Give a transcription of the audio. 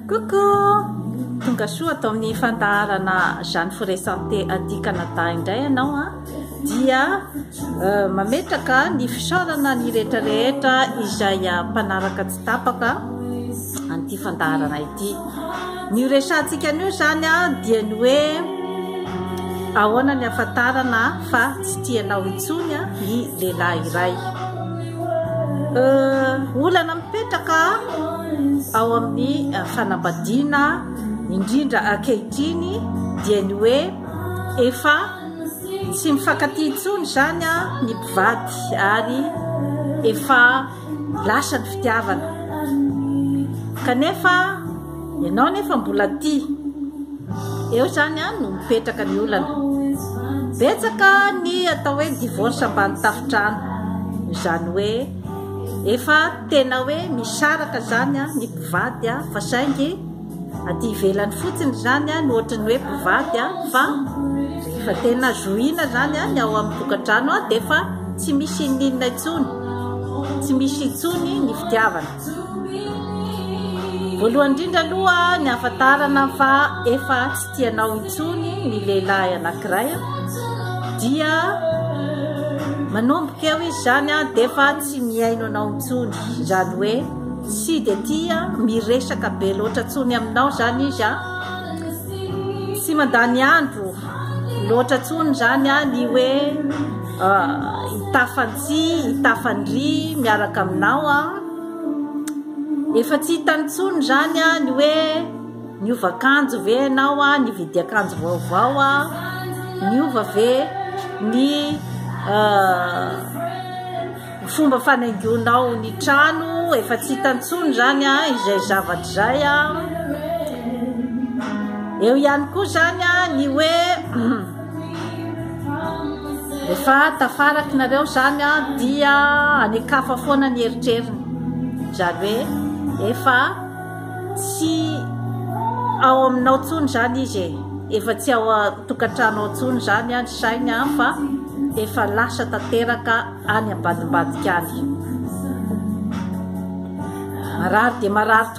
Coucou! Tonga soa ato amin'ny fandaharana Jeanne Forêt Santé aty Canada indray ianao a! Dia mametraka ny fisaorana ny rehetra rehetra izay mpanaraka tsy tapaka an'ity fandaharana ity. Ny ho resahantsika anio izany a dia ny hoe ahoana ny ahafantarana fa tsy tianao intsony ny lehilahy iray. Olana mipetraka ao amin'ny fanambadiana indrindra ankehitriny dia ny hoe efa tsy mifankatia intsony izany ny mpivady ary efa lasa ny fitiavana kanefa Ianao anefa mbola tia. Eo izany an no mipetraka ny olana. Betsaka ny atao hoe divorce ambany tafotrano. Izany hoe efa tena hoe misaraka izany ny mpivady fa saingy aty ivelany fotsiny izany no ohatran'ny hoe mpivady fa rehefa tena zohiana izany ny ao amin'ny tokantrano dia efa tsy misy inona inona intsony. Tsy misy intsony ny fitiavana. Voalohany indrindra aloha ny ahafantarana fa efa tsy tia anao intsony ny lehilahy anankiray dia manomboka eo izy zany a dia efa tsy mihaino anao intsony izany hoe tsy dia tia miresaka be loatra intsony aminao zany izy a tsy mandany andro loatra intsony zany a ny hoe ah, hitafantsika tsy tafandry miaraka aminao a efa tsy hitany tsony izany a ny hoe niova kanjo ve ianao a ny vidiakanjo vaovao a niova ve ny euh, fomba fanaingonao ny trano efa tsy hitany tsony izany a izay zavatra izay a eo ihany koa izany a ny hoe Rehefa tafaraki nareo zany an, dia any an-kafa foana ny eritreriny. Izany hoe efa tsy ao aminao intsony izany izy e. Efa tsy ao an-tokantrano ao intsony izany ny sainy an, fa efa lasa tanteraka any ambadimbadika any. Marary dia marary.